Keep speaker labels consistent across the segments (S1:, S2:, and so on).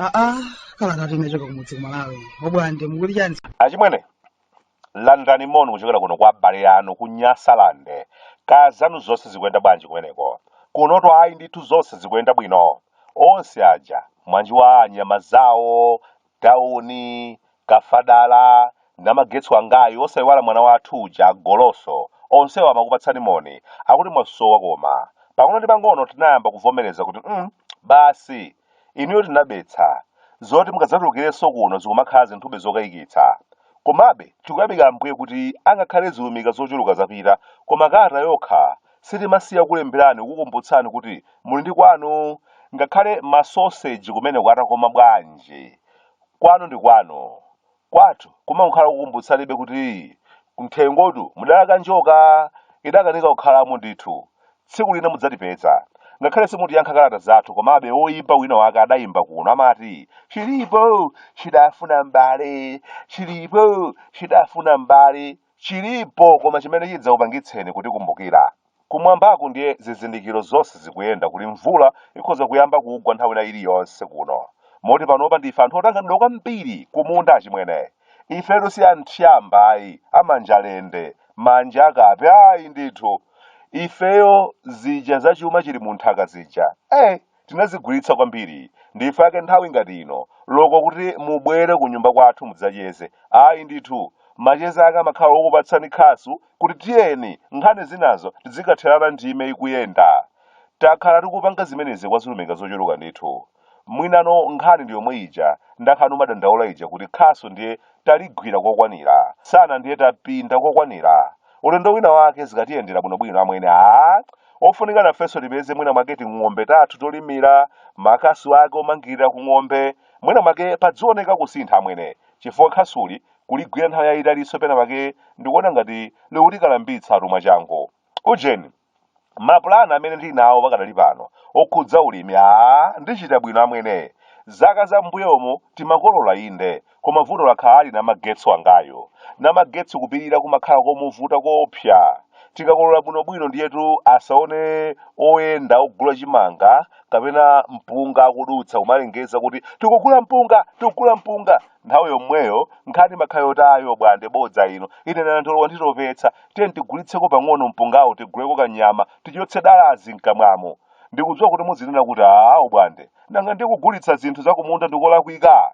S1: aa kalata inachoka kumudzi ku malawi obwande mukuti chani achimwene
S2: Landirani moni kuchokera kuno kwa abale anu ku Nyasaland. Kaya zanu zonse zikuyenda bwanji kumeneko? Kunotu ayi ndithu zonse zikuyenda bwino. Onse aja mwanjiwa a Nyamazawo, tauni, kafadala, namagetsi wangayu osayiwala mwana wathu uja Goloso. Onsewa amakupatsani moni. Akuti mwasowa koma. Pang'ono ndi pang'ono tinayamba kuvomereza kuti mm, basi Inuyo tinabetsa. Zoti mukadzatulukirenso kuno zikumakhala zinthube zokayikitsa. Komabe, tikuyamika Ambuye kuti angakhale zilumika zochuluka zapita, koma kalata yokha sitimasiya kukulemberani kukukumbutsani kuti muli ndi kwanu. Ngakhale masoseji kumeneko atakoma bwanji, kwanu ndi kwanu. Kwathu kumangokhala kukumbutsanibe kuti m'thengotu mudalaka njoka idakanika kukhalamo ndithu. Tsiku lina mudzatipeza. Ngakhale simutiyankha kalata zathu komabe woimba wina wake adaimba kuno amati chilipo chidafuna m'bale chilipo chidafuna m'bale chilipo koma chimene chidzakupangitseni kutikumbukira Kumwambaku ndiye zizindikiro zonse zikuyenda kuti mvula ikhoza kuyamba kugwa nthawi ina iliyonse kuno. Moti panopa ndife anthu otanganidwa kwambiri kumunda achimwene. Ifetu si a nthyamba ayi, a manja lende, manja akape, ayi ndithu! Ifeyo zija za chuma chili munthaka zija, ee! tinazigwiritsa kwambiri ndife ake nthawi ngati ino loko kuti mubwere ku nyumba kwathu mudzacheze ayi ndithu macheza ake amakhala okupatsani khasu kuti tiyeni nkhani zinazo tidzikatherana ndime ikuyenda takhala tikupanga zimenezi kwa zilumika zochuluka ndithu mwinano nkhani ndi yomwe ija ndakhala nkumadandaula ija kuti khasu ndiye taligwira kokwanira msana ndiye tapinda kokwanira ulendo wina wake zikatiyendera bwinobwino amwene a ofunika nafenso tipeze mwina mwake ting'ombe tathu tolimira makasu ake omangirira ku ng'ombe mwina mwake padzioneka kusintha amwene chifukwa khasuli kuligwira nthawi yayitalinso pena pake ndikuona ngati likutikalambitsatu mwachangu ujeni mapulani amene ndili nawo pakadali pano okhudza ulimi aa ndichita bwino amwene zaka za m'mbuyomo timakolola inde koma vuto lakhala ali namagetsi wangayo namagetsi kupirira kumakhala komuvuta koopsa tikakolola bwinobwino ndiyetu asaone oyenda ogula chimanga kapena mpunga akudutsa kumalengeza kuti tikugula mpunga tikugula mpunga nthawi yomweyo nkhani imakhala yoti ayi obwande bodza ino ine nandolo wanditopetsa tiyeni tigulitseko pang'ono mpungawo tiguleko kanyama tichotse dalazi mkamwamo ndikudziwa kuti muzinena kuti awo bwande nanga ndiye kugulitsa zinthu zakumunda ndikolakwika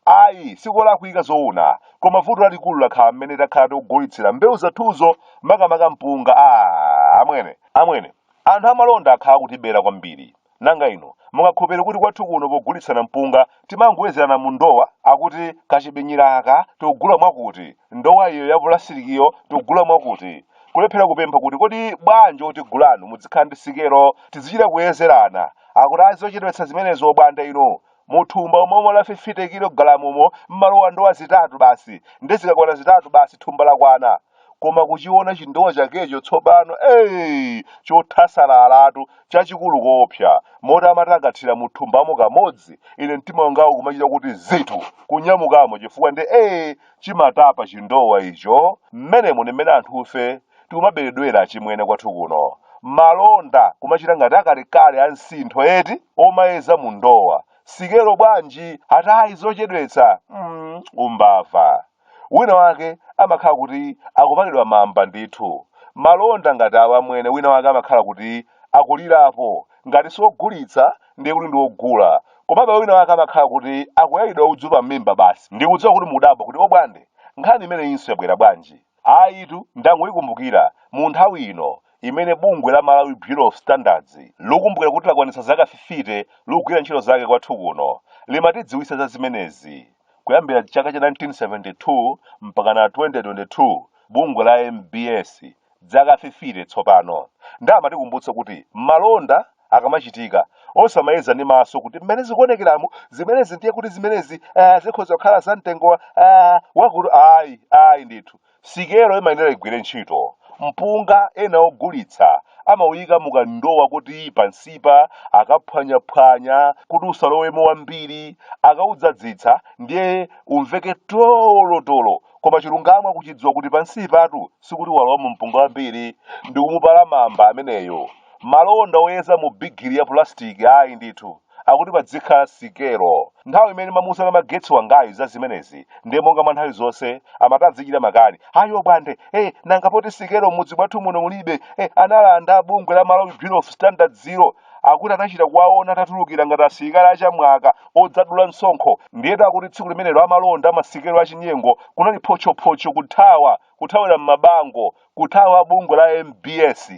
S2: Ayi, sikolakwika zoona, koma vuto lalikulu lakhala mmene takhala tikugulitsira mbewu zathuzo, makamaka mpunga. Aaa, amwene! Amwene, anthu amalonda akhala akutibera kwambiri. Nanga inu, mungakhulupirire kuti kwathu kuno pogulitsana mpunga timangoyezerana mu ndowa? Akuti kachibinyira aka tikugula mwakuti, ndowa iyo ya pulasitikiyo tikugula mwakuti. Kulephera kupempha kuti kodi bwanji otigulanu mudzikhala ndi sikelo tidzichita kuyezerana? Akuti ayi zochedwetsa zimenezo, Bwande inu! Muthumba umomo la 50 kilogalamumo mmalowa ndowa zitatu basi nde zikakwana zitatu basi thumba lakwana koma kuchiona chindowa chakecho tsopano ee chothasalalatu chachikulu koopsa moti amati akathira muthumbamo kamodzi ine mtima wangawu kumachita kuti zitu kunyamukamo chifukwa nde ee chimatapa chindowa icho mmenemo ndi mmene anthufe tikumaberedwera achimwene kwathu kuno malonda kumachita ngati akalekale a msintho eti omayeza mu ndowa sikelo bwanji atayi zochedwetsa mm, umbava wina wake amakhala kuti akupalidwa mamba ndithu malonda ngati awa amwene wina wake amakhala kuti akulirapo ngati siwogulitsa ndiye kuti ndiwogula komabe wina wake amakhala kuti akuyalidwa udzu pa mimba basi ndikudziwa kuti mukudabwa kuti obwande nkhani imeneyinso yabwera bwanji Ayitu, ndangoyikumbukira, mu nthawi ino imene bungwe la Malawi Bureau of Standards likukumbukira kuti lakwanitsa zaka 50 likugwira ntchito zake kwathu kuno, limatidziwitsa za zimenezi. Kuyambira chaka cha 1972 mpakana 2022, bungwe la MBS, dzaka 50 tsopano. Nde amatikumbutsa kuti malonda akamachitika. Osamayeza ndi maso kuti mmene zikuonekeramu zimenezi ndiye kuti zimenezi ah, zikhoza kukhala za mtengo wa ah, wakuti ayi ayi ndithu sikelo imayenera igwire ntchito mpunga ena ogulitsa amawuyika mukandowa kuti pansipa akaphwanyaphwanya kuti usalowemo wambiri akawudzadzitsa ndiye umveke tolotolo koma chilungamo akuchidziwa kuti pansipatu sikuti walowamo mpunga wambiri ndi kumupala mamba ameneyo Malonda oyeza mu bigiri ya pulasitiki, ayi ndithu, akuti padzikhala sikelo. Nthawi imene ndimamuuza Namagetsi wangayu za zimenezi, ndiye monga mwa nthawi zonse, amati adzichita makani. Ayi Obwande, eh, nanga poti sikelo m'mudzi mwathu muno mulibe, eh, analanda a bungwe la Malawi Bureau of Standards'lo, akuti anachita kuwaona atatulukira ngati asilikali achamwaka odzadulitsa msonkho. Ndiyetu akuti tsiku limenelo amalonda a masikelo achinyengo kunali photchophocho kuthawa, kuthawira m'mabango, kuthawa a bungwe la mbs.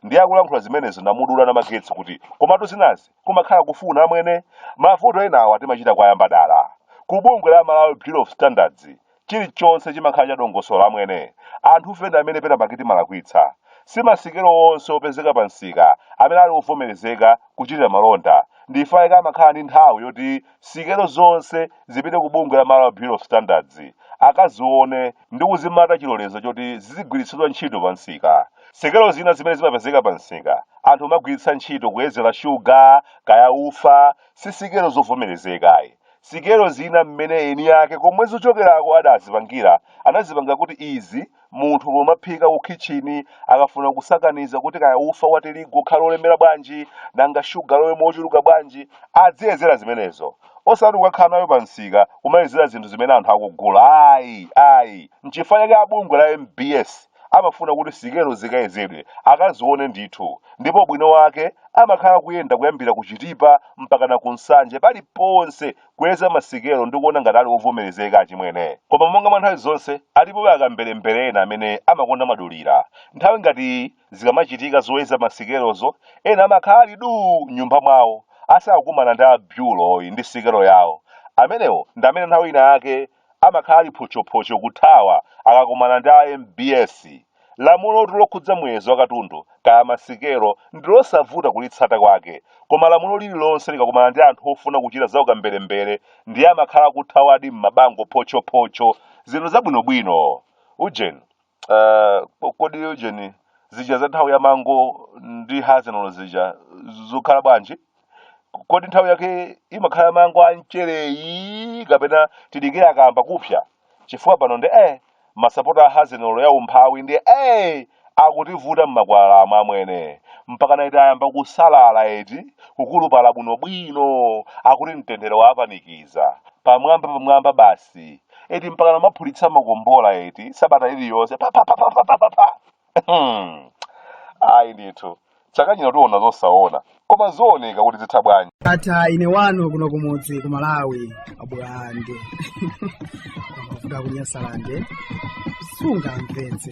S2: ndiye akulankhula zimenezo namudula namagetsi kuti komatu zinazi kumakhala kufuna amwene mavuto enawa timachita kuwayamba dala ku bungwe la malawi bureau of standards chilichonse chimakhala chadongosolo amwene anthufe ndi amene penapake timalakwitsa si masikelo onse opezeka pa msika amene ali ovomerezeka kuchitira malonda nchifa chake amakhala ndi nthawi yoti sikelo zonse zipite ku bungwe la malawi bureau of standards akazione ndi kuzimata chilolezo choti zizigwiritsidwa ntchito pa msika sikelo zina zimene zimapezeka pa msika anthu amagwiritsa ntchito kuyezera shuga kaya ufa si sikelo zovomerezeka ayi sikelo zina mmene eni ake komwe zochokerako adazipangira anazipangira kuti izi munthu pomaphika ku kitchini akafuna kusakaniza kuti kaya ufa wa tirigu ukhale olemera bwanji nanga shuga alowe mochuluka bwanji adziyezera zimenezo osati kukakhala nayo pa msika kumayezera zinthu zimene anthu akugula ayi ayi nchifukwa chake abungwe la mbs amafuna kuti sikelo zikayezedwe akazione ndithu ndipo bwinolake amakhala kuyenda kuyambira ku chitipa mpaka na ku nsanje pali ponse kuyeza masikelo ndi kuona ngati ali ovomerezeka achimwene koma monga mwa nthawi zonse alipobe akamberembere ena amene amakonda madulira nthawi ngati iyi zikamachitika zoyeza masikelozo ena amakhala ali duu m'nyumba mwawo asakakumana ndi a bureauyi ndi sikelo yawo amenewo ndi amene nthawi ina yake amakhala ali photchophocho kuthawa akakumana ndi a mbs lamulotu lokhudza muyezo wa katundu kaya masikelo ndi losavuta kulitsata kwake koma lamulo lililonse likakumana ndi anthu ofuna kuchita za ukamberembere ndiye amakhala kuthawadi m'mabango photchophocho zinthu zabwinobwino ujeni Ah, ko- kodi ujeni zija za nthawi ya mango ndi hazenolo zija zikhala bwanji kodi nthawi yake imakhala mango a mchereyi kapena tidikire akayamba kupsa chifukwa pano ndiye masapota a hazenolo ya umphawi ndiye akutivuta mmakwalalamu amwene mpaka naitiyamba kusalala eti kukulupala bwinobwino akuti mtendere wapanikiza pamwamba pamwamba basi eti mpaka kumaphulitsa makombola eti sabata iliyonse pa pa pa pa pa pa pa pa Hmm. ayi ndithu chaka chino tiona zosaona koma zooneka kuti zitha bwanji atha ine wanu
S1: kuno kumudzi ku malawi abwande amafuta kunyasalande sungamvetse